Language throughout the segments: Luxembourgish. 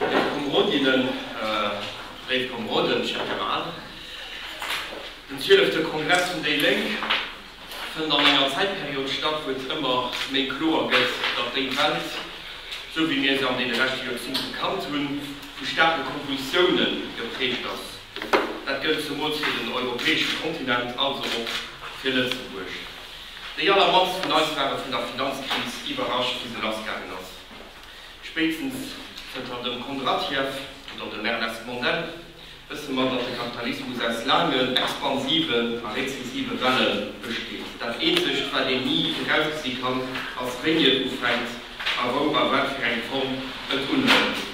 Léif Komrodinnen, léif Komrodden, cher camarade, den zwielefte Kongress vun déi Lénk fënnt an enger Zäitperiod statt, wou et ëmmer méi kloer gëtt, datt déi Welt, esou wéi mir se an deene leschte Joerzéngte gekannt hunn, vu staarke Konvulsioune geprägt ass. Dat gëllt zemools fir den europäesche Kontinent, also och fir Lëtzebuerg. Déi allermannst vun eis ware vun der Finanzkris iwwerrascht, wéi se lassgaangen ass. Spéitstens zënter dem Kondratiev oder dem Ernest Mandel wësse mer, datt de Kapitalismus aus laangen, expansiven a rezessive Welle besteet. Dat Eenzegt, wat een ni virausgesi kann, ass, wéini et ufänkt a wou a wat fir eng Form et unhëlt.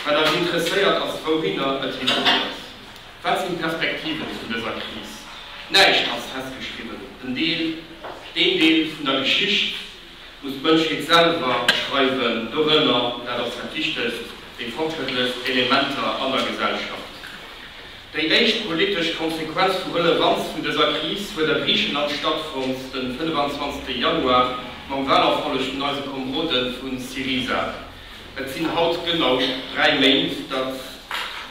Wat eis interesséiert, ass, wouhinner et higéiert. Wat sinn d'Perspektiven vun dëser Kris? Näischt ass festgeschriwwen. Den Deel, deen Deel vun der Geschicht, muss d'Mënschheet selwer schreiwen, dorënner, dat ass dat Wichtegst, déi fortschrëttlechst Elementer an der Gesellschaft. Déi éischt politesch Konsequenz vu Relevanz vun dëser Kris huet a Griicheland stattfonnt, de 25. Januar, mam Wahlerfolleg vun eise Komrode vu Syriza. Et sinn haut genau dräi Méint datt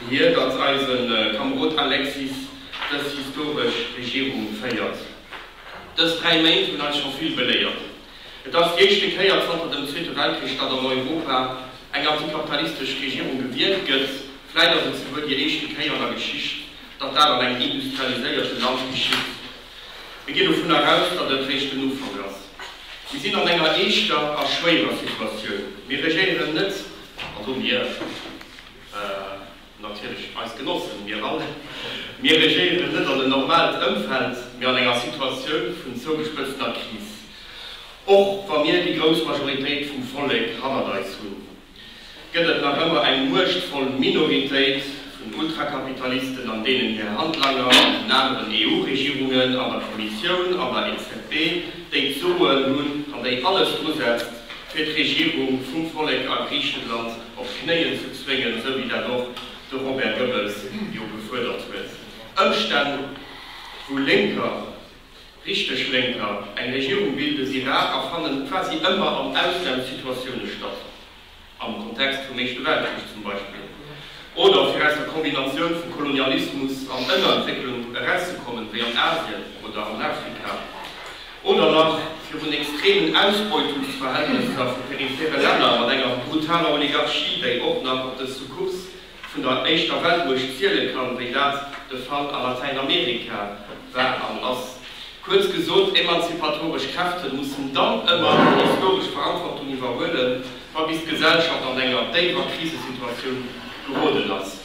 hir, datt eise Kamrod Alexis dës historesch Regierung féiert. Dës dräi Méint hunn eis scho vill beléiert. Et ass d'éischte Kéier zanter dem Zweete Weltkrich, datt an Europa eng antikapitalistesch Regierung gewielt gëtt. Vläit ass et souguer déi éischte Kéier an der Geschicht, datt dat an engem industrialiséierte Land geschitt. Mir ginn dovun eraus, datt et réischt den Ufank ass. Mir sinn an enger eeschter a schwéierer Situatioun. Mir regéieren net, also mir. Natierlech eis Genossen, mir all. Mir regéieren net an en normalt Ëmfeld, mee an enger Situatioun vun zougespëtzter Kris. Och wa mir déi grouss Majoritéit vum Vollek hannert eis hunn, gëtt et nach ëmmer eng muechtvoll Minoritéit vun Ultrakapitalisten an deenen hir Handlanger an den aneren EU-Regierungen, an der Kommissioun, an der EZB, déi d'Soen hunn an déi alles drusetzt, fir d'Regierung vum Vollek a Griichenland op d'Knéien ze zwéngen, esou wéi dat och de Robert Goebbels jo gefuerdert huet. Ëmstänn, wou Lénker, richteg Lénker, eng Regierung bilden, si rar a fannen quasi ëmmer an Ausnamssituatioune statt, am Kontext vum Éischte Weltkrich zum Beispill, oder fir aus der Kombinatioun vu Kolonialismus an Ënnerentwécklung erauszekommen, wéi an Asien oder an Afrika. Oder nach virun extremen Ausbeutungsverhältnisser vu periphere Länner mat enger brutaler Oligarchie, déi och nach op de Succubs vun der éischter Weltmuecht ziele kann, wéi dat de Fall a Latäinamerika war an ass. Kuerz gesot, emanzipatoresch Kräfte mussen dann ëmmer hir historesch Verantwortung iwwerhuelen, ma bis d'Gesellschaft an enger déiwer Krisesituatioun geroden ass.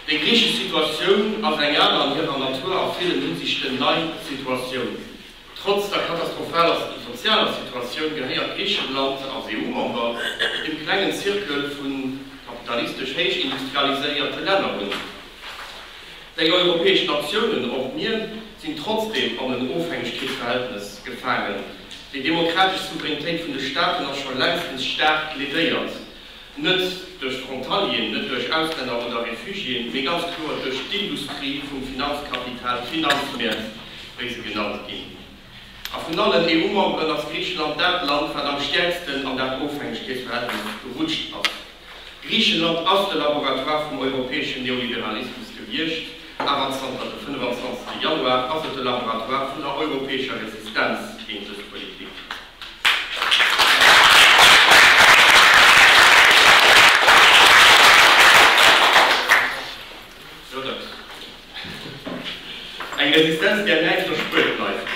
Déi griichesch Situatioun ass eng aner an hirer Natur a villen Hinsichten nei Situatioun. Trotz der katastrophaler sozialer Situatioun gehéiert Griichenland als EU-Member dem klengen Zirkel vu kapitalistesch héichindustrialiséierte Länner un. Déi europäesch Natiounen, och mir, sinn trotzdeem an en Ofhängegkeetsverhältnes gefaangen. Déi demokratesch Souveränitéit vun de Staaten ass scho längstens staark ledéiert. Net duerch d'Frontalieren, net duerch Auslänner oder Refugiéen, mee ganz kloer duerch d'Industrie vum Finanzkapital, d'Finanzmäert, wéi se genannt ginn. A vun allen EU-Memberen ass Griichenland dat Land, wat am stäerksten an dat Ofhängegkeetsverhältnis gerutscht ass. Griichenland ass de Laboratoire vum europäeschen Neoliberalismus gewiescht, awer zanter de 25. Januar ass et de Laboratoire vun der europäescher Resistenz géint dës Politik. Eng Resistenz, där näischt erspuert bleift.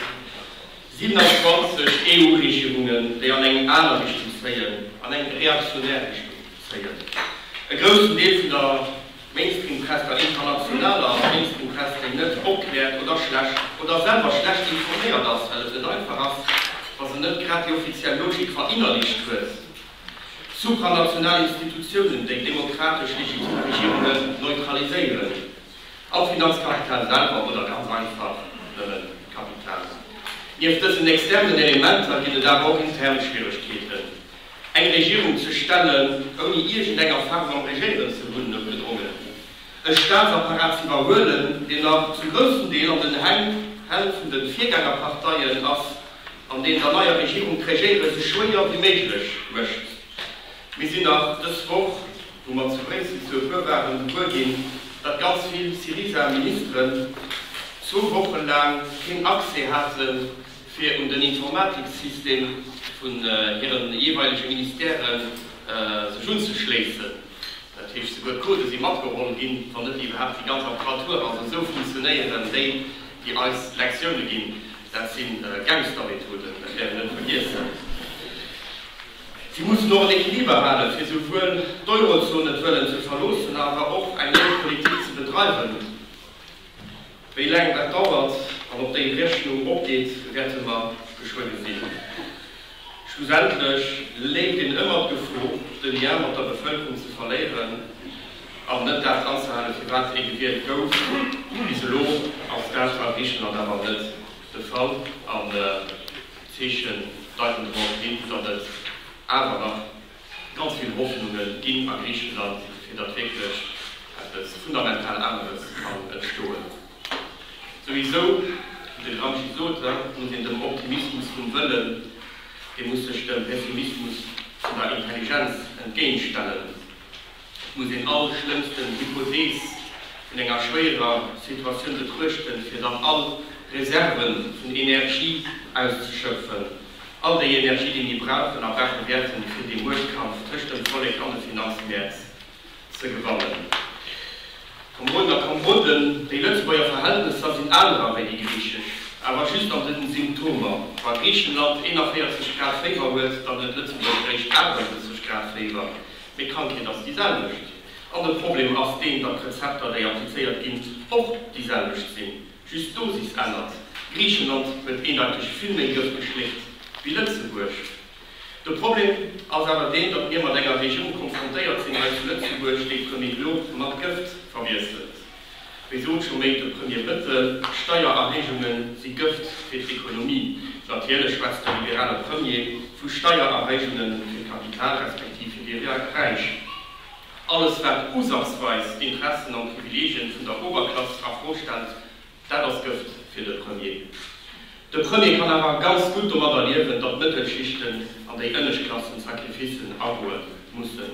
27 EU-Regierungen, déi an eng aner Richtung zéien, an eng reaktionär Richtung zéien. E groussen Deel vun der. Mainstream-Press der internationaler a Mainstream-Press déi net opkläert oder schlecht oder selwer schlecht informéiert ass, well et net einfach ass, wa se net grad déi offiziell Logik verinnerlicht huet, supranational Institutiounen, déi demokratesch legitim Regierunge neutraliséieren, am Finanzkapital selwer oder ganz einfach nëmme Kapital. Nieft dësen externen Elementer ginn et awer och intern Schwieregkeeten. Eng Regierung ze stellen, ouni iergendenger Faarf am Regéieren ze hunn, noutgedrongen e Staatsapparat ze iwwerhuelen, deen nach zu groussem Deel an den Hänn Hänn vun de Virgängerparteien ass an deen der neier Regierung d'Regéieren esou schwéier wéi méiglech mécht. Mir sinn nach dës Woch, wou mer zu Bréissel zu e puer waren, gewuer ginn, datt ganz vill Syriza-Ministeren zwou Woche laang keen Accès haten fir un den Informatiksystem vun hire jeeweilege Ministèrë sech unzeschléissen, dat heescht esouguer d'Codë si matgeholl ginn, wann net iwwerhaapt déi ganz Apparaturen, also esou funktionéieren déi, déi eis Lektioune ginn. Dat si Gangstermethoden, dat wäert een net vergiessen. Si mussen och en Equiliber halen, fir esouwuel d'Eurozon net wëllen ze verloossen, awer och eng Geldpolitik ze bedreiwen, Wéi laang dat dauert an ob déi Rechnung opgeet, wäerte mer geschwënn gesinn. Schlussendlech léimt een ëmmer d'Gefo, de Lien mat der Bevëlkerung ze verléieren an net dat anzehalen, firwat ee gewielt gouf. Bis elo ass dat a Griichenland awer net de Fall an d'Zeechen deiten dorop hin, datt et awer nach Ganz vill Hoffnunge ginn a Griicheland, fir datt wierklech eppes fundamental aneres kann entstoen. Souwisou, wéi de Gramsci sot, muss een dem Optimismus vum Wëllen, dee muss sech dem Pessimismus vun der Intelligenz entgéintstellen. Et muss een all schlëmmsten Hypothees vun enger schwéierer Situatioun betruechten, fir dann all Reserve vun Energie auszeschöpfen, all déi Energie, déi mir brauchen a brauche wäerten, fir dee Muechtkampf tëscht dem Vollek an de Finanzmäert ze gewannen. Kameroden a Kameroden, déi Lëtzebuerger Verhältnesser sinn anerer wéi déi griichesch, awer just an den Symptomer. Wa Griichenland 41 Grad Féiwer huet, dann huet Lëtzebuerg réischt 38 Grad Féiwer. Mee d'Krankheet ass déi selwecht an de Problem ass deen, datt d'Rezepter, déi applizéiert ginn, och déi selwecht sinn, just d'Dosis ännert. Griichenland huet eendeiteg vill méi Gëft geschléckt wéi Lëtzebuerg. De Problem ass awer deen, datt mir mat enger Regierung konfrontéiert sinn hei zu Lëtzebuerg, déi d'Remédiore mat Gëft verwiesselt. Wéi sot scho méint de Premier Bëttel, Steiererhéijunge si Gëft fir d'Ekonomie. Natierlech schwätzt de liberale Premier vu Steiererhéijunge fir d'Kapital respektiv fir déi Räich. Alles wat usazweis d'Interessen an d'Privilegien vun der Oberklass a Fro stellt, dat ass Gëft fir de Premier. De Premier kann awer ganz gutt domadder liewen, datt d'Mëttelschichten an déi Ënneschtklassen Sacrificen agoe mussen.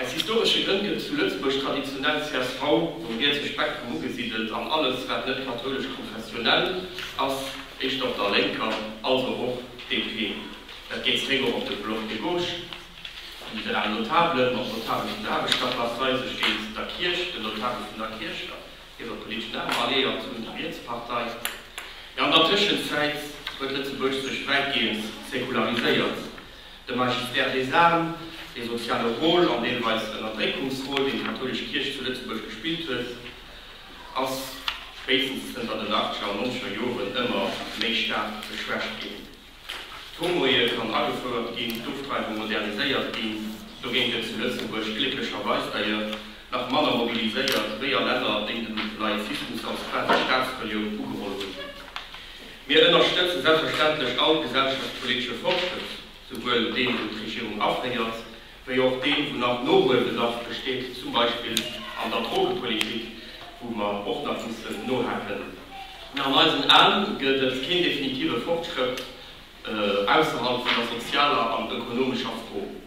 Aus historesche Grënn gëtt zu Lëtzebuerg traditionell csv um rietse Spektrum ugesidelt an alles wat net kathoulesch-konfessionell ass éischter op der Lénker, also och DP. Dat geet zeréck och op de Bloc de gauche, den liberalen Notabelen, mat Notabele vun der Aarbechterklass-Rei, sech géint der Kierch, den Notabele vun der Kierch a hirer politeschen Arm alliéiert hunn, der Rietspartei. Jo, an der Tëschenzäit huet Lëtzebuerg sech wäitgehend säkulariséiert. De Magistrat des armes, dee soziale Rôle an deelweis Ënnerdréckungsrôle, deen d'kathoulesch Kierch zu Lëtzebuerg gespillt huet, ass spéitstens zënter den Achtziger a Nonzeger Joren ëmmer méi staark geschwächt ginn. D'Homoehe kann agefouert ginn, d'Ofdreiwung moderniséiert ginn. Dogéint gëtt zu Lëtzebuerg glécklecherweis d'ailleurs nach manner mobiliséiert wéi a Länner, déi dem neie Systems als quasi Staatsreliounen ugeholl hunn. Mir ënnerstëtzen selbstverständlech all gesellschaftspolitesche Fortschrëtt, souwuel deen, wou d'Regierung aféiert, wéi och deen, wou nach Nohuelbedarf besteet, zum Beispill an der Drogepolitik, wou mer och nach mussen nohaken. Mä an eisen Ae gëtt et keen definitive Fortschrëtt ausserhalb vun der sozialer an ökonomescher Fro.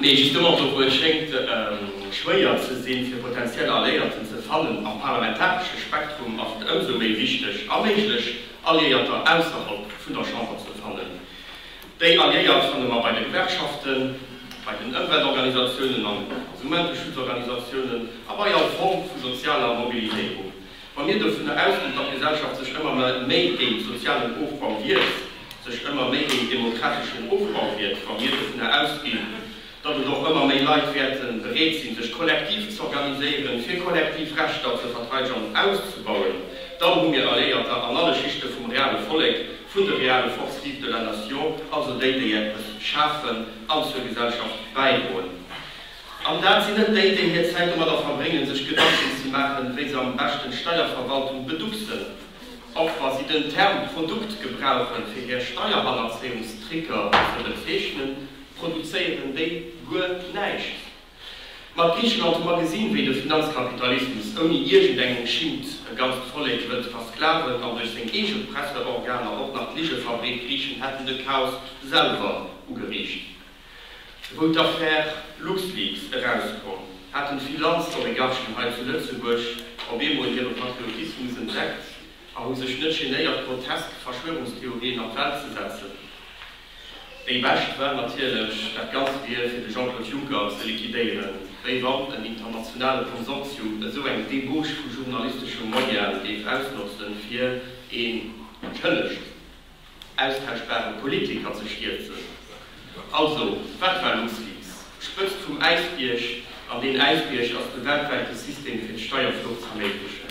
Nee, justement, do wou et schéngt schwéier ze sinn, fir potentiell Alliéierten ze fannen am parlamentaresche Spektrum, ass et ëmsou méi wichteg, a méiglech Alliéierter ausserhalb vun der Chamber ze fannen. Déi Alliéiert fanne mer bei de Gewerkschaften, bei den Ëmweltorganisatiounen an Konsumenteschutzorganisatiounen a bei all Form vu sozialer Mobiliséierung. Wa mir dovun ausginn, datt d'Gesellschaft sech ëmmer méi géint sozialen Ofbau wiert, sech ëmmer méi géint demokrateschen Ofbau wiert, wa mir dovun ausginn, datt et och ëmmer méi Leit wäerte bereet sinn, sech kollektiv z'organiséieren, fir kollektiv Rechter ze verteidegen an auszebauen, dann hu mir Alléierter an alle Schichte vum reale Vollek, vun de reale Forces vives de la nation, also déi, déi eppes schafen an zur Gesellschaft bäidroen. An dat sinn net déi, déi hir Zäit domadder verbréngen, sech Gedanken ze maachen, wéi se am beschten d'Steierverwaltung beducksen, och wa si den Term Produkt gebrauchen, fir hir SteierhannerzéiungstrickeR ze bezeechnen, produzéieren déi guer näischt. Mat Griicheland hu mer gesinn, wéi de Finanzkapitalismus ouni iergend eng Schimmt e ganzt Vollek huet versklaven an duerch seng eege Presseorganer och nach d'Ligefabrik Griichen hätten de Chaos selwer ugeriicht. Wou d'Affär LuxLeaks erauskoum, haten Finanzoligarchen hei zu Lëtzebuerg op eemol hire Patriotismus entdeckt a hu sech net genéiert, grotesk Verschwörungstheorien an d'Welt ze setzen. Déi bescht war natierlech, dat Ganzt wier fir de Jean-Claude Juncker ze liquidéieren, wéi wann en internationale Konsortium esou eng Debauche vu journalisteschem Moyen géif ausnotzen, fir een Schëllegt. austauschbare Politiker ze stierzen. Also, wat war LuxLeaks? D'Spëtzt vum Äisbierg, an deen Äisbierg ass de weltwäite System fir d'Steierflucht z'erméiglechen.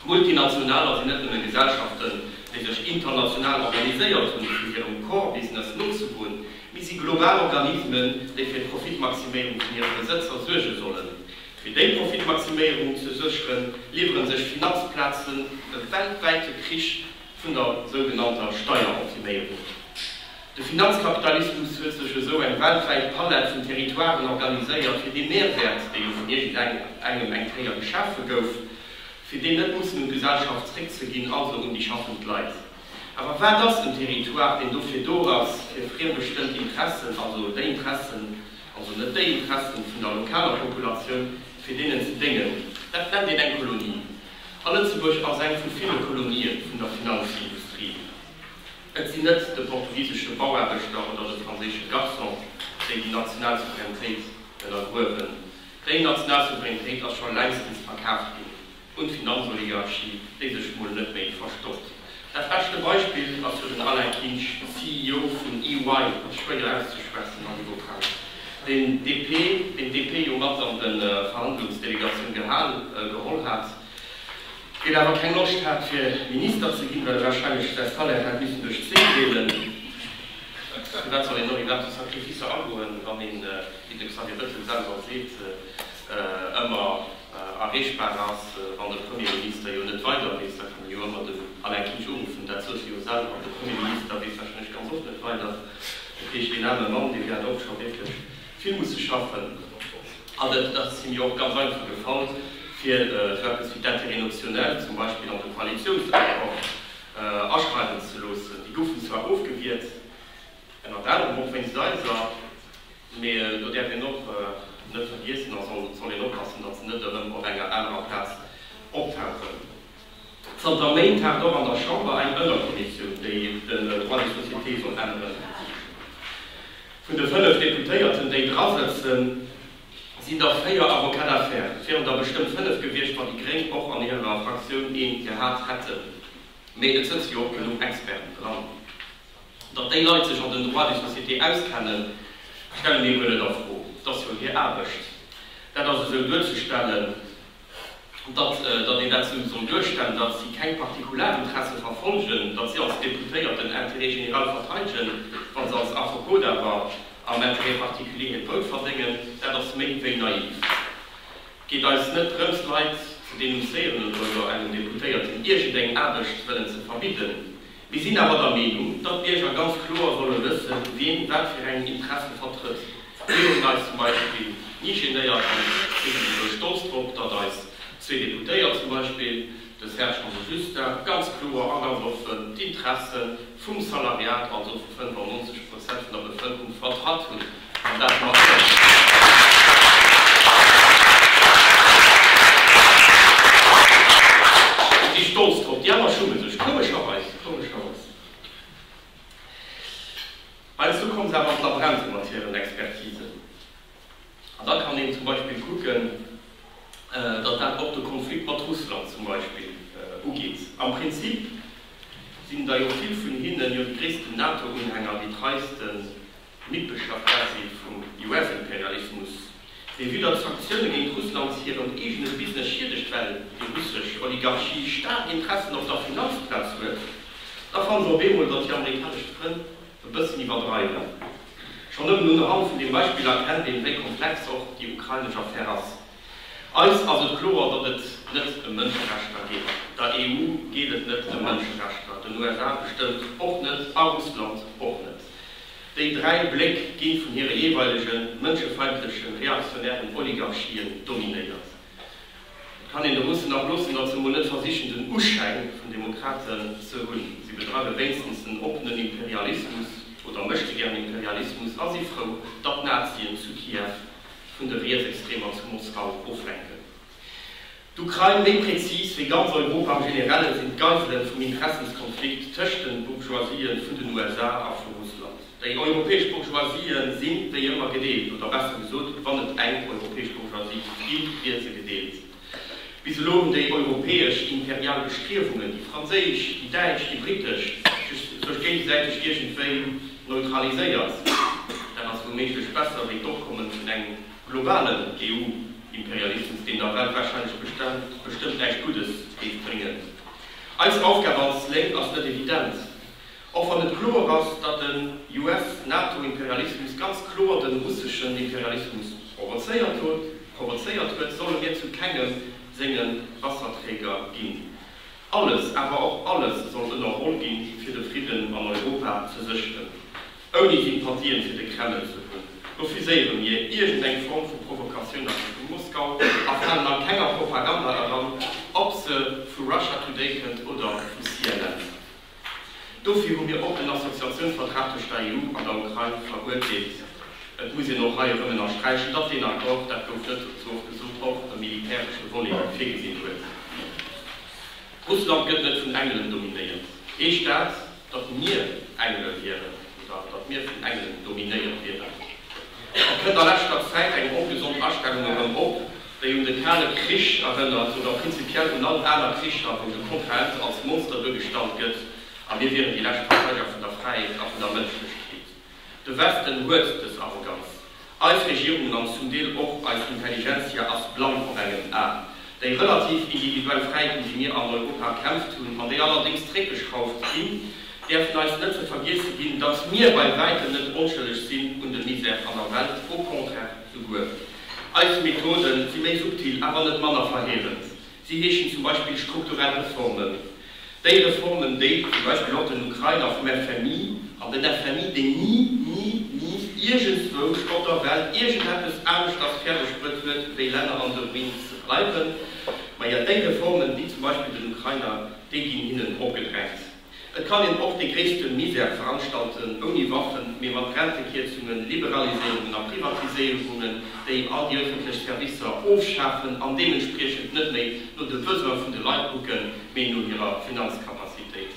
D'Multinationaler sinn net nëmmen Gesellschaften, déi sech international organiséiert hunn, fir hirem Core Business nozegoen, mee si global Organismen, déi fir d'Profitmaximéierung vun hire Besëtzer suerge sollen. Fir déi Profitmaximéierung ze sécheren, liwwere sech Finanzplazen e weltwäite Krich vun der sougenannter Steieroptiméierung. De Finanzkapitalismus huet sech esou eng weltwäit Palett vun Territoiren organiséiert, fir dee Mehrwert, dee jo vun iergendengem eng Kéier geschafe gouf, fir deen net mussen un d'Gesellschaft zréckzeginn, also un déi schaffend Leit. Awer wat ass en Territoire, deen dofir do ass, fir friembestëmmt Interessen, also déi Interessen, also net déi Interessen vun der lokaler Populatioun, fir deenen ze déngen? Dat nennt een eng Kolonie. A Lëtzebuerg ass eng vu ville Kolonie vun der Finanzindustrie. Et sinn net de portugisesche Bauaarbechter oder de franséische Garçon, déi déi national Souveränitéit ënnergruewen. Déi national Souveränitéit ass scho längstens verkaaft ginn un d'Finanzoligarchie, déi sech mol net méi verstoppt. Dat beschte Beispill ass jo den Alain Kinsch, CEO vun EY, ass schwéier auszeschwätzen an eloquent, deen DP, deen d'DP jo mat an de Verhandlungsdelegatioun gehal, geholl hat, deen awer keng Loscht hat fir Minister ze ginn, well e wahrscheinlech säi Salaire hätt missen duerch zwee deelen. Firwat soll een dann iwwerhaapt esou Sacrificer agoen, wann een, wéi de Xavier Bettel selwer seet, ëmmer. erreechbar ass, wann de Premier Minister jo net weider weess, da kann e jo ëmmer dem Alain Kinsch uruffen, dat sot hie jo selwer. De Premier Minister weess warscheinlech ganz oft net weider, dat heescht, deen aarme Mann, dee wäert och scho wierklech vill musse schaffen an et ass him jo och ganz einfach gefall, fir esou eppes wéi d'Intérêts notionnels zum Beispill an de Koalitiounsaccord aschreiwen ze loossen. Déi goufen zwar ofgewiert. Ënnert anerem och wéinst eiser, mee do däerf een och net vergiessen a soll een oppassen, datt se net erëm op enger anerer Plaz optauchen. Zanter Méint tagt och an der Chamber eng Ënnerkommissioun, déi den Droit des sociétés soll änneren. Vun de fënnef Deputéierten, déi dra sëtzen, sinn der véier Avocats d'affaires. Et wieren der bestëmmt fënnef gewiescht, wann déi Gréng och an hirer Fraktioun ee gehat hätten. Mee et sëtze jo och genuch Experten dran. Datt déi Leit sech an den Droits de société auskennen, stelle mir guer net a Fro. Et ass jo hir Aarbecht, dat ass esou duerzestellen. Datt een dat esou soll duerstellen, datt si keng Partikularinteresse verfolgen, datt si als Deputéiert den Intérêt général verteidegen, wa se als Affekot awer am Intérêt particulier hiert Brout verdéngen, dat ass méi wéi naiv. Et geet eis net drëms, Leit ze denoncéieren oder engem Deputéierten iergendeng Aarbecht wëllen ze verbidden. Mir sinn awer der Meenung, datt d'Bierger ganz kloer solle wëssen, wien wat fir eng Interesse vertrëtt. Mir hunn eis zum Beispill ni genéiert, an mir sinn esouguer stolz drop, datt eis zwee Deputéiert, zum Beispill de Serge an de Justin, ganz kloer a ganz offen d'Interesse vum Salariat, also vu 95 Prozent vun der Bevëlkerung, vertratt hunn. An dat mat Iech. Ech si stolz drop. Déi aner schummen sech, komescherweis. Heiansdo komme se awer an d'Labränte mat hiren Expertisen. An da kann een zum Beispill kucken, datt dat och de Konflikt mat Russland zum Beispill ugeet. Am Prinzip sinn der jo vill vun hinnen jo déi gréissten NATO-Unhänger, déi treiste D'Mëtglschaft quasi vum US-Imperialismus, dee widder d'Sanktioune géint Russland hirem eegene Business schiedegt, well déi russesch Oligarchie staark Interessen op der Finanzplaz huet, da fanne se op eemol, datt hir amerikanesch Frënn e bëssen iwwerdreiwen. Schonn nëmmen unhand vun deem Beispill erkennt een, wéi komplex och déi ukrainesch Affär ass. Eis ass et kloer, datt et net ëm Mënscherechter geet. Der EU geet et net ëm Mënscherechter, den USA bestëmmt och net a Russland och net. Déi dräi Bléck gi vun hire jeeweilege mënschefeindleche reaktionären Oligarchien dominéiert. Et kann een de Russen nach loossen, datt se emol net versichen, den Uschäin vun Demokraten ze hunn. Si bedreiwe wéinstens en oppenen Imperialismus oder Méchtegern-Imperialismus a si frou, datt d'Nazien zu Kiew vun de Rietsextremer zu Moskau oflenken. D'Ukrain, méi prezis, wéi ganz Europa am Generellen, sinn d'Geiselen vum Interessenskonflikt tëscht den Bourgeoisien vun den USA a vu Russland. Déi europäesch Bourgeoisien sinn, wéi ëmmer, gedeelt, oder besser gesot, wann et eng europäesch Bourgeoisie gi wier, wier se gedeelt. Bis elo hunn déi europäesch imperial Bestriewungen, déi franséisch, déi däitsch, déi brittesch, sech géigesäiteg iergendwéi neutraliséiert. Dat ass wouméiglech besser wéi d'Opkommen vun engem globalen EU-Imperialismus, deen der Welt warscheinlech bestëmmt näischt Guddes géif bréngen. Eis Aufgab als Lénk ass net evident. Och wann et kloer ass, datt den US-NATO-Imperialismus ganz kloer de russeschen Imperialismus provozéiert hot, provozéiert huet, solle mir zu kengem senge Wasserträger ginn. Alles, awer och alles soll ënnerholl ginn, fir de Fridden an Europa ze sécheren, ouni Sympathien fir de Kreml ze hunn. Refuséiere mir iergend eng Form vu Provokatioun a Richtung Moskau a falen a kenger Propaganda eran, ob se vu Russia Today kënnt oder vu CNN. Dofir hu mir och den Associatiounsvertrag tëscht der EU an der Ukrain veruerteelt. Et muss een och hei erëm ënnersträichen, datt deen Accord, dat gouf net ze oft gesot, och e militäresche Volet virgesinn huet. Russland gëtt net vun Engelen dominéiert. Ee Staat, datt mir Engele wieren oder datt mir vun Engelen dominéiert wieren. Et kënnt a leschter Zäit eng ongesond Astellung erëm op, déi un de Kale Krich erënnert oder prinzipiell un all aner Kricher, wou de Kontrahent als Monster duergestallt gëtt a mir wieren déi lescht Verteideger vun der Fräiheet a vun der Mënschlechkeet. De Westen huet dës Arroganz. Eis Regierungen an zum Deel och eis Intelligentsia ass blann op engem A. Déi relativ individuell Fräiheet, ëm déi mir an Europa erkämpft hunn an déi allerdéngs zréckgeschrauft ginn, däerfen eis net ze vergiesse ginn, datt mir bei wäitem net onschëlleg sinn un de Misère an der Welt, au contraire souguer. Eis Methode si méi subtil, awer net manner verheerend. Si heeschen zum Beispill strukturell Reformen. Déi Reformen, déi zum Beispill och den Ukrainer vum FMI, an den FMI, deen ni, ni, ni iergendswou op der Welt iergendeppes aneschters fäerdeg bruet huet, wéi Länner an esou Means ze bleiwen, majo, déi Reformen, déi zum Beispill den Ukrainer, déi ginn hinnen opgedrängt. Et kann een och dee gréisste Misär veranstalten, ouni Waffen, mee mat Rentekierzungen, Liberaliséierungen a Privatiséierungen, déi all déi ëffentlech Servicer ofschafen an deementspriechend net méi no de Besoin vun de Leit kucken, mee no hirer Finanzcapacitéit.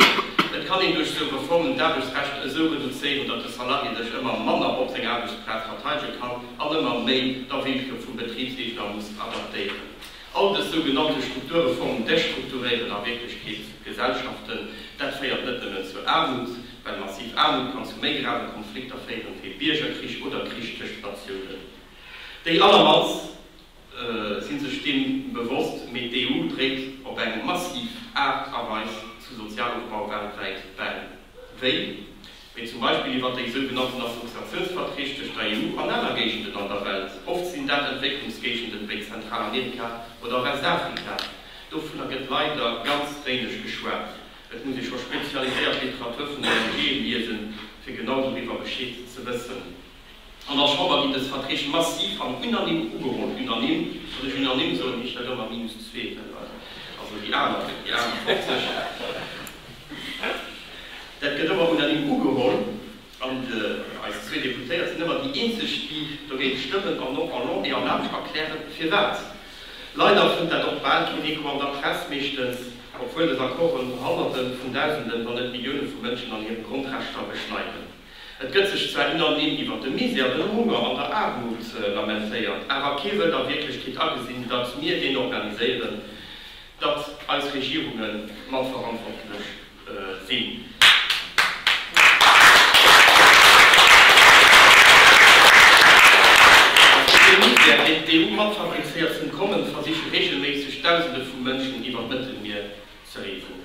Et kann een duerch sou Reformen d'Aarbechtsrecht esou reduzéieren, datt de Salarié sech ëmmer manner op seng Aarbechtsplaz verteidege kann an ëmmer méi der Willkür vum Betribsgéigner muss adaptéieren. All dës sougenannte Struktureformen destrukturéieren a Wierklechkeet Gesellschaften. Dat féiert net nëmmen zu Aarmut, well massiv Aarmut kann zu méi grave Konflikter féieren, wéi Biergerkrich oder Krich tëscht Natiounen. Déi allermannst si sech deem bewosst, mee d'EU dréit op eng massiv Aart a Weis zu Sozialofbau weltwäit bäi, wéi mee zum Beispill iwwer déi sou genannten Assoziatiounsverträg tëscht der EU an aner Géigenden an der Welt, oft sinn dat Entwécklungsgéigenden wéi Zentralamerika oder Westafrika, dovunner gëtt leider ganz wéineg geschwat. Et muss ee scho spezialiséiert Literatur vun der ONG liesen, fir genau doriwwer Bescheed ze wëssen. An der Chamber ginn dës Verträg massiv an unanime ugeholl, unanime, wann ech unanime soen, heescht dat ëmmer minus zwee, also déi aner, déi aner 50. Dat gëtt ëmmer unanime ugeholl an eis zwee Deputéiert sinn ëmmer déi eenzeg, déi dogéint stëmmen an och en long et en large erklären, firwat. Leider fënnt dat och bal keen Echo an der Press, meeschtens, obwuel dës Accorden Honnerte vun Dausenden, wann net Millioune vu Mënschen an hire Grondrechter beschneiden. Et gëtt sech zwar ënnerdeem iwwer de Misär, de Hunger an der Aarmut lamentéiert, awer kee wëllt a Wierklechkeet agesinn, datt mir deen organiséieren, datt eis Regierunge mat verantwortlech sinn. A fir dee Misär, deen d'EU mat fabrizéiert, z'entkommen, versiche reegelméisseg Dausende vu Mënschen iwwer d'Mëttelmier ze reesen.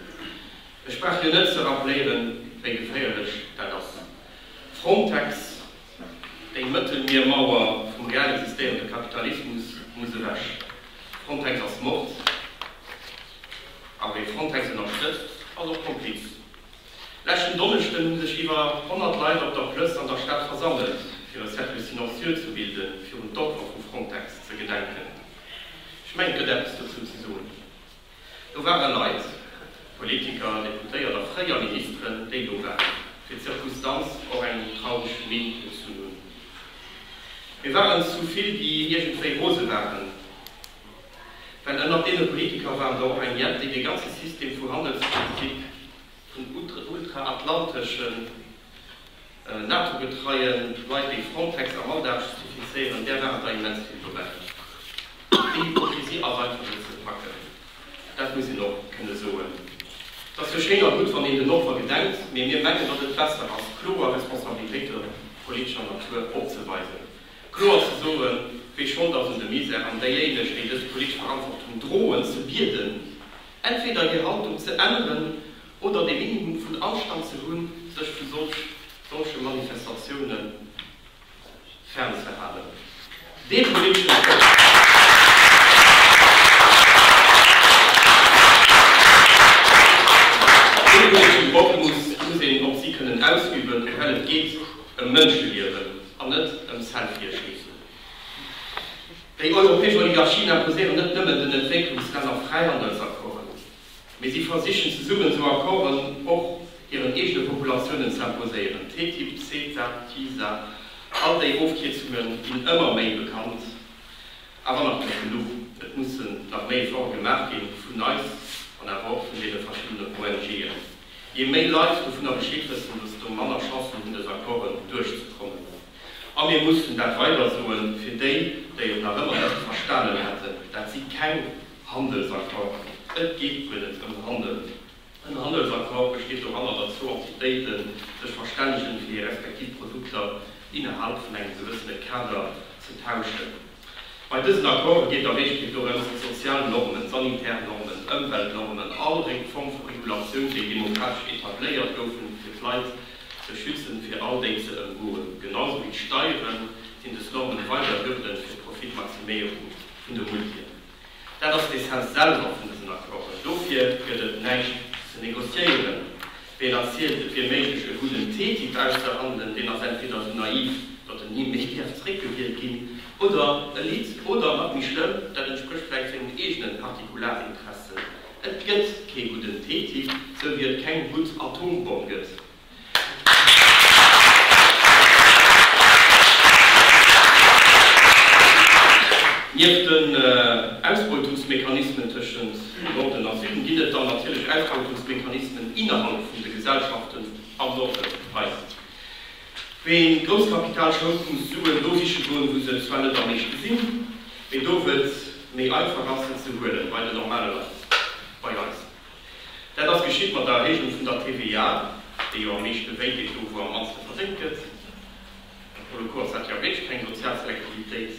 Ech brauch jo net ze rappléieren, wéi geféierlech dat ass. Frontex, déi Mëttelmiermauer vum real existéierende Kapitalismus, muss ewech. Frontex ass Mord. A wee Frontex ënnerstëtzt, ass och Kompliz. Leschten Donneschden hu sech iwwer 100 Leit op der Plëss an der Stad versammelt, fir e Cercle silencieux ze bilden, fir un d'Opfer vu Frontex ze gedenken. Ech mengen, et gëtt eppes dozou ze soen. Do ware Leit, Politiker, Deputéiert a fréier Ministeren, déi do waren, fir d'Circustanz och eng traureg Minn gezunn hunn. Mir waren zu vill, déi iergendwéi rose waren, well ënnert deene Politiker war der och eng jett, déi dee ganze System vu Handelspolitik, vun ultraatlanteschen, NATO-getreien Leit wéi Frontex a Malta ze zertifizéieren, där waren der immens vill dobäi, déi och fir si ass einfach net ze packen, dat muss een och kënne soen. Et ass jo schéin a gutt, wann een den Opfer gedenkt, mee mir mengen, datt et besser ass, kloer Responsabilitéite politescher Natur opzeweisen, kloer ze soen, wie Schold ass un de Misär, an déijéineg, déi dës politesch Verantwortung droen, ze bieden, entweder hir Haltung ze änneren oder de Minimum vun Anstand ze hunn, sech vu solche Manifestatioune fern ze halen. Dee politeschen Code. Dee politeschen Drock muss een op si kënnen ausüben, well et geet ëm Mënscheliewen an net ëm Selfierschiessen. Déi europäesch Oligarchien imposéieren net nëmmen den Entwécklungslänner Fräihandelsaccorden. Mee si versichen zesummen esou Accorden och hiren eegene Populatiounen ze imposéieren. TTIP, CETA, TISA, all déi Ofkierzunge ginn ëmmer méi bekannt, awer nach net genuch. Et mussen nach méi Efforte gemaach gi vun eis an awer och vun deene verschiddenen ONGen. Jee méi Leit dovunner Bescheed wëssen, desto manner Chancen hunn dës Accorden duerchzekommen. A mir mussen dat weider soen, fir déi, déi et nach ëmmer net verstanen hätten, Dat si keng Handelsaccord, Et geet guer net ëm Handel. En Handelsaccord besteet doranner, datt zwou Entitéite sech verstännegen, fir hir respektiv Produkter innerhalb vun engem gewëssene Kader ze tauschen. Bei dësen Accorde geet der Meeschtheid dorëms, déi sozial Normen, sanitär Normen, Ëmweltnormen, all reng Form vu Regulatioun, déi demokratesch etabléiert goufen, fir d'Leit ze schützen, fir all déi ze ëmgoen. Genausou wéi d'Steieren sinn dës Normen weider Hürden fir d'Profitmaximéierung vun de Multien. Dat ass d'Essenz selwer vun dësen Accorden. Dofir gëtt et näischt ze negociéieren. Ween erzielt, et wier méiglech e gudden TTIP auszehandelen, deen ass entweder esou naiv, datt en ni méi däerf zréckgewielt ginn, oder e litt, oder, nach méi schlëmm, dat entsprécht vläicht sengen eegenen Partikularinteressen. Et gëtt kee gudden TTIP, sou wéi et keng gutt Atombomm gëtt. Nieft den Ausbeutungsmechanismen tëschent Norden a Süden ginn et dann natierlech Ausbeutungsmechanismen innerhalb vun de Gesellschaften am Norden. Eis wéi Grousskapital schold muss Suen do siche goen, wou se zwar net am meeschte sinn, mee do wou et méi einfach ass se ze huelen, bei den normale Leit, bei eis. Dat ass geschitt mat der Erhéijung vun der TVA, déi jo am meeschte wéi deet, do wou am mannste verdéngt gëtt. An pour le coup ass dat jo wierklech keng sozial Selektivitéit.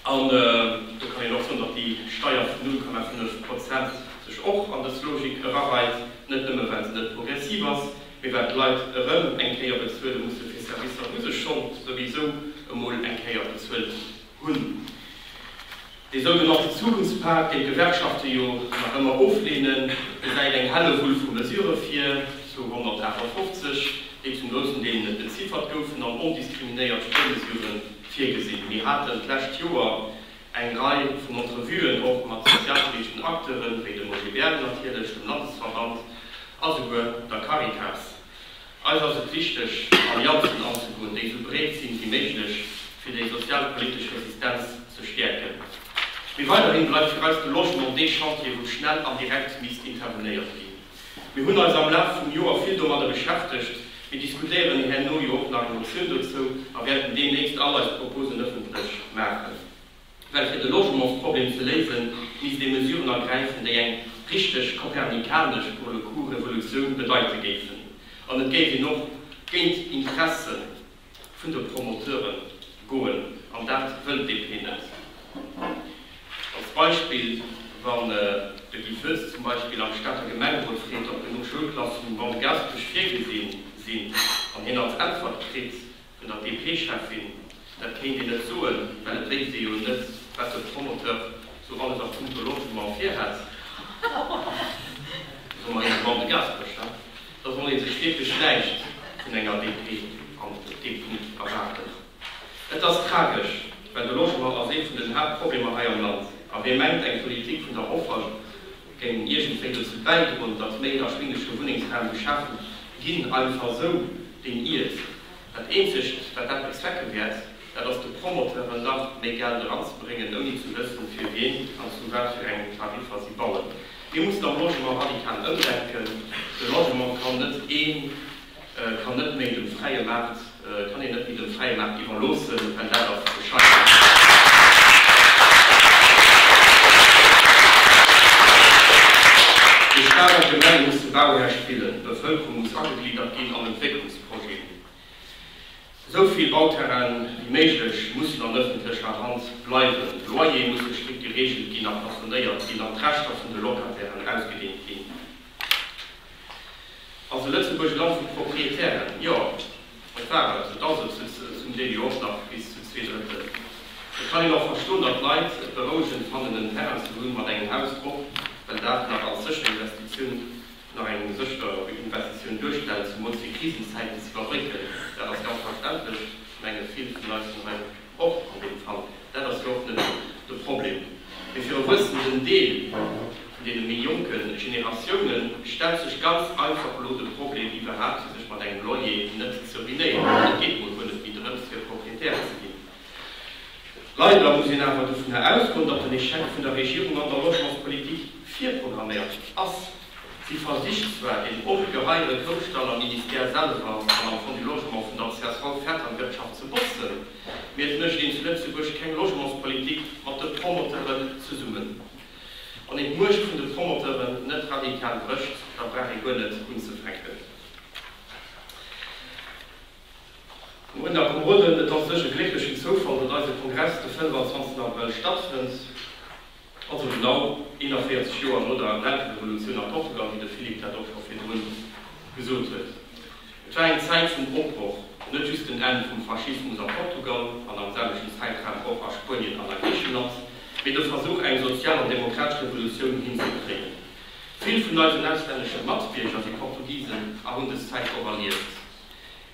An do kann een och soen, datt déi Steier vun 0,5 Prozent sech och an dës Logik erareit, net nëmme well se net progressiv ass, mee well d'Leit erëm eng Kéier bezuele musse fir Servicer, wou se schonn souwisou emol eng Kéier bezuelt hunn. hunn. Dee sougenannten Zukunftspak, deen d'Gewerkschafte jo nach ëmmer ofleenen, gesäit eng Hellewull vu Mesurë vir, zu 158, déi zum groussen Deel net beziffert goufen an ondiskriminéiert Spuermesurë virgesinn. Mir haten d'lescht Joer eng Rei vun Entrevuen och mat sozialpoliteschen Acteuren, wéi dem OGBL natierlech, dem Landesverband a souguer der Caritas. Eis ass et wichteg, Allianzen anzegoen, déi esou breet sinn wéi méiglech, fir déi sozialpolitesch Resistenz ze stäerken. Mee weiderhin bleift fir eis de Logement dee Chantier, wou schnell an direkt misst intervenéiert ginn. Mir hunn eis am Laf vum Joer vill domadder beschäftegt. Mir diskutéieren herno jo och nach eng Motioun dozou a wäerten deemnächst all eis Proposen ëffentlech maachen. Well fir de Logementsproblem ze léisen, misst ee Mesuren ergräifen, déi eng richteg kopernikanesch, pour le coup, Revolutioun bedeite géifen. An et géif een och géint d'Interesse vun de Promoteure goen. An dat wëll d'DP net. Als Beispill, Wann de Guy Foetz zum Beispill am Stater Gemengerot freet, ob genuch Schoulklassen um Bau Gaspech virgesi sinn, an hien als Äntwert kritt, Vun der PP-Cheffin, Dat kéint een net soen, well et wéisst ee jo net, wat de Promoteur sou alles a punkto Logement virhätt, soe mer hire Mann de Gaspersch, he? Da soll ee sech wierklech näischt vun enger DP an deem Punkt erwaarden. Et ass tragesch, well de Logement ass ee vun den Haaptproblemer hei am Land. A wee mengt, eng Politik vun der Offer Géing iergendwéi dozou bäidroen, datt méi erschwinglege Wunnengsraum geschaf ginn, einfach esou deen Iert. Dat eenzegt, wat dat bezwecke wäert, dat ass de Promoteuren nach méi Geld eranzebréngen, ouni ze wëssen, fir wien an zu wat fir engen Tariffer si bauen. Mir mussen am Logement radikal ëmdenken. De Logement kann net een. kann net méi dem fräie Maart, kann een net méi dem fräie Maart iwwerloossen, well dat ass Déi staark Gemenge musse Bauhär spillen, d'Bevëlkerung muss agegliddert ginn an Entwécklungsprojeten, esou vill Bauterrainen wéi méiglech mussen an ëffentlecher Hand bleiwen, d'Loyere musse strikt gereegelt ginn a plafonéiert ginn an d'Rechter vun de Locatairen ausgedeent ginn. Ass e Lëtzebuerg e Land vu Proprietären? Jo, et war et, et ass et, zum Deel jo och nach bis zu zwee Drëttel. Et kann een och verstoen, datt d'Leit et berouegend fannen, en Terrain ze hunn mat engem Haus drop, well dat nach als sécher Investitioun, nach eng sécher Investitioun duerstellt, zumools fir Krisenzäiten ze iwwerbrécken. Dat ass ganz verständlech, mengen vill vun eis vun hei. Och an deem Fall, dat ass jo och net de Problem, mee fir e wuessenden Deel vun deene méi jonke Generatioune stellt sech ganz einfach elo de Problem iwwerhaapt, fir sech mat engem Loyer net ze ruinéieren. Et geet emol guer net méi drëms, fir Propriétaire ze ginn. Leider muss een awer dovunner ausgoen, datt den Echec vun der Regierung an der Logementspolitik virprogramméiert ass. Si versicht zwar, den ongeheire Grousstall am Ministère selwer an am Fonds du Logement vun der csv fett an d'Wirtschaft ze botzen, mee et mécht een zu Lëtzebuerg keng Logementspolitik mat de Promoteuren zesummen. Wann een d'Muecht vun de Promoteuren net radikal brécht, da brauch ee guer net unzefänken. Moien a Komoden, et ass séch e glécklechen Zoufall, datt eise Kongress de 25 Abrëll stattfënnt. Also genau 41 Joer no der Renterevolutioun a Portugal, wéi de Philippe dat och scho virdru gesot huet. Et war eng Zäit vum Opbroch, net just den Enn vum Faschismus a Portugal an am selwechten Zäitraum och a Spuenien an a Griicheland, mee de Versuch, eng sozial an demokratesch Revolutioun hinzekréien. Vill vun eisen auslännesche Matbierger si Portugisen a hunn dës Zäit och erlieft.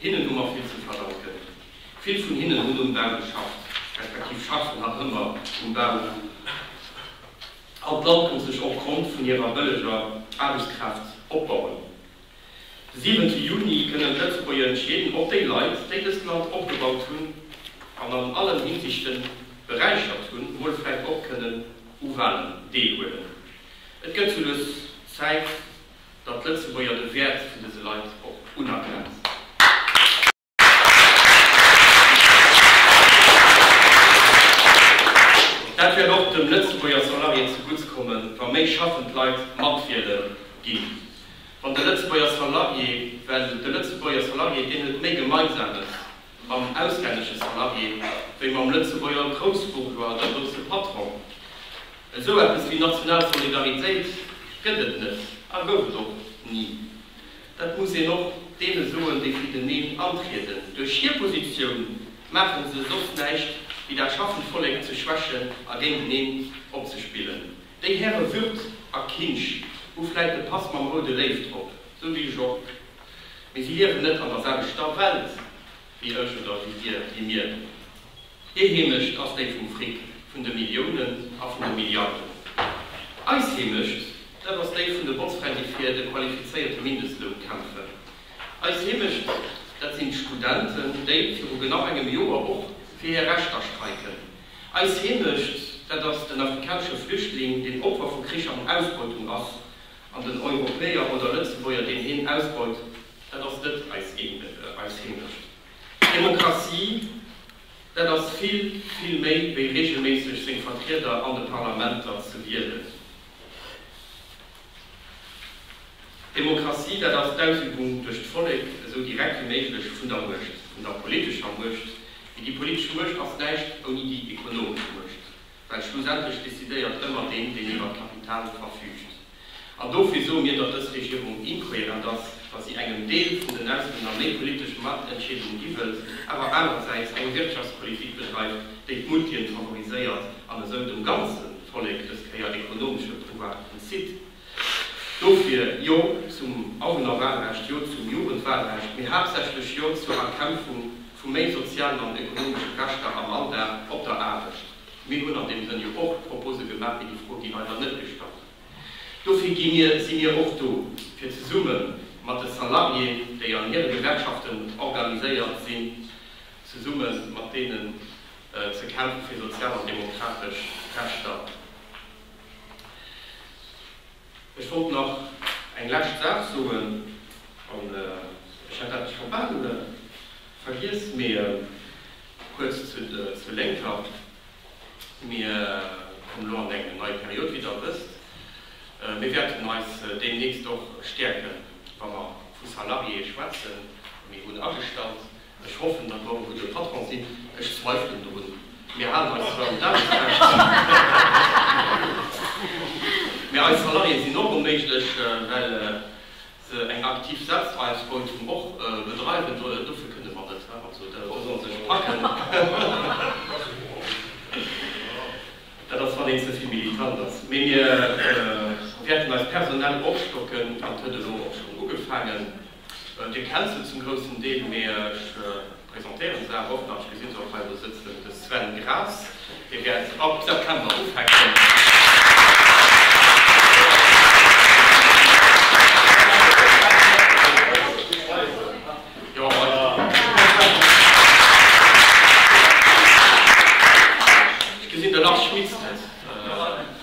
Hinnen hu mer vill ze verdanken. Vill vun hinnen hunn um Bau geschafft, respektiv schaffen nach ëmmer um Bau. All d'Land konnt sech och konnt vun hirer bëlleger Aarbechtskraaft opbauen. De siwente Juni kënnen d'Lëtzebuerger entscheeden, ob déi Leit, déi dëst Land opgebaut hunn an an allen Hinsichten beräichert hunn, emol vläicht och kënnen u Walen deelhuelen. Et gëtt soulues Zäit, datt d'Lëtzebuerger de Wäert vun dëse Leit och unerkennt. Dat wäert och dem Lëtzebuerger Salarié zu Gutts kommen, wa méi schaffend Leit matwiele ginn. Wann de Lëtzebuerger Salarié, well de Lëtzebuerger Salarié, deen huet méi Gemeinsames mam auslännesche Salarié wéi mam Lëtzebuerger Groussbourgeois, der grousse Patron. Esou eppes wéi national Solidaritéit gëtt et net a gouf et och ni. Dat muss een och deene soen, déi fir den Neen antrieden. Duerch hir Positioun maache se soss näischt, wéi dat schaffend Vollek ze schwächen a géinteneen opzespillen. Déi Häre Würth a Kinsch hu vläit de Pass mam roude Léiw drop, sou wéi ech och, mee si liewen net an der selwechter Welt wéi ech oder wéi dir, wéi mir. Hir Heemecht ass déi vum Fric, vun de Milliounen a vun de Milliarden. Eis Heemecht, dat ass déi vun de Botzfränn, déi fir de qualifizéierte Mindestloun kämpfen. Eis Heemecht, dat sinn d'Studenten, déi viru genau engem Joer och fir hir Rechter streiken. Eis Heemecht, dat ass den afrikanesche Flüchtling, deen Opfer vu Krich an Ausbeutung ass, an den Europäer oder Lëtzebuerger, deen hien ausbeut, dat ass net eis Heemecht. Demokratie, dat ass vill, vill méi wéi reegelméisseg seng Vertrieder an de Parlamenter ze wielen. Demokratie, dat ass d'Ausübung duerch d'Vollek, esou direkt wéi méiglech, vun der Muecht, vun der politescher Muecht, mee déi politesch Muecht ass näischt ouni déi ekonomesch Muecht. Well schlussendlech decidéiert ëmmer deen, deen iwwer d'Kapital verfüügt. An dofir soe mir, datt dës Regierung inkohärent ass, datt si engem Deel vun den Auslänner méi politesch Matentscheedung gi wëllt, awer anerersäits eng Wirtschaftspolitik bedreift, déi d'Multien favoriséiert an esou dem ganze Vollek dës Kéier ekonomesche Pouvoir entzitt. Dofir Jo zum Awunnerwahlrecht, Jo zum Jugendwahlrecht, mee haaptsächlech Jo zur Erkämpfung vu méi sozialen an ekonomesche Rechter am Alldag op der Aarbecht. Mir hunn an deem Sënn jo och Propose gemaach, mee déi Fro gi leider net gestallt. Dofir gi mir, si mir och do, fir zesumme mat de Salariéen, déi an hire Gewerkschaften organiséiert sinn, zesumme mat deenen ze kämpfen, fir sozial an demokratesch Rechter. Ech wollt nach eng lescht Saach soen, an ech hätt dat scho bal vergiess, mee kuerz zu de Lénker, Mir kommen elo an eng nei Period, wéi Der wësst. Mir wäerten eis deemnächst och stäerken, wa mer vu Salariéë schwätzen, déi mir hunn agestallt, Ech hoffen, datt mer e gudde Patron sinn. Ech zweifelen dorun. Mir halen eis zwar un d'Aarbechtsrecht, mä eis Salariéë sinn och onméiglech, well se eng aktiv Selbstausbeutung och bedreiwen. Dofir kënne mer net. Also, da solle se sech packen. Dat ass, wann een ze vill militant ass. Mee mir wäerten eis personell opstocken. Dat huet elo och schonn ugefaangen. Dir kennt se zum groussen Deel, mee ech presentéieren se awer och nach. Ech gesinn se och hei elo sëtzen, de Sven Graas, dee wäert ab September ufänken. Ech gesinn, de Lars Schmitz net.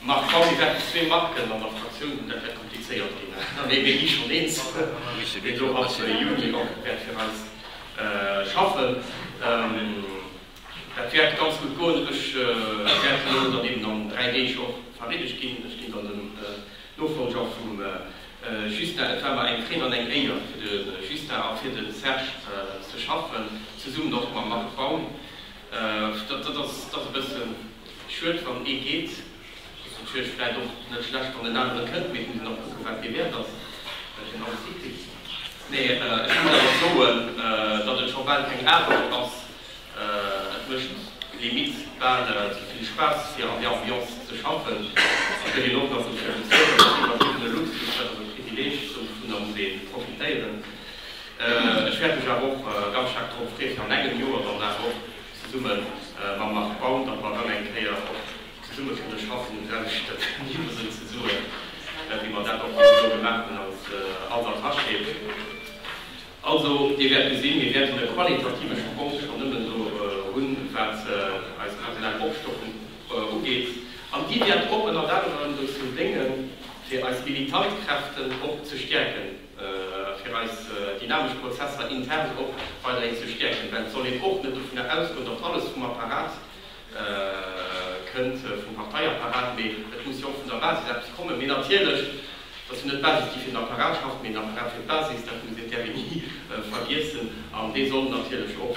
Marc Fang, Mir wäerten zwee Marken an der Fraktioun hunn, dat wäert komplizéiert ginn. An ee wéini schonn eens gëtt, deen do als Union och wäert fir eis schaffen, dat wäert ganz gutt goen. Ech wäert elo dann eben an dräi Deeg och vereedegt ginn. Ech ginn dann den Nofollger vum Justin. Et war mer eng Fréd an eng Éier fir de Justin a fir de Serge ze schaffen, zesummen och mam Marc Baum. Dat ass e bëssen. Schued wann ee geet. Ass natierlech vläit och net schlecht wann den aneren kënnt, mee et muss een och kucken wat dee Wäert ass, wat een alles hikritt. Mee ech muss awer soen, datt et scho bal keng Aarbecht ass. Et mécht limite bal ze vill Spaass fir an där Ambiance ze schaffen. Et gëtt een och nach dofir bezuelt. Dat ass een iwwertriwwene Luxus, dat ass e Privileeg, dovunner muss ee profitéieren. Ech wäert mech awer och ganz staark drop freeë fir an engem Joer dann awer och, Zesumme mam Marc Baum, datt mer erëm eng Kéier och zesumme kënne schaffen, hu wärend ech dat niwwersënn ze soen, wéi mer dat och bis elo gemaach hunn als als Attaché. Also, Dir wäert gesinn, mir wäerten e qualitative Sprong schonn nëmmen do hunn, wat eis personell Opstockung ugeet. An déi wäert och ënnert anerem dozou déngen, fir eis militant Kräften och ze stäerken. fir eis dynamesch Prozesser intern och weiderhin ze stäerken, well et soll een och net dovunner ausgoen, datt alles vum Apparat kënnt, vum Parteiapparat, mee et muss jo och vun der Basis eppes kommen. Mee natierlech, et ass jo net d'Basis, déi fir den Apparat schafft, mee den Apparat fir d'Basis, dat muss een d'RMI ni vergiessen, an dee soll natierlech och,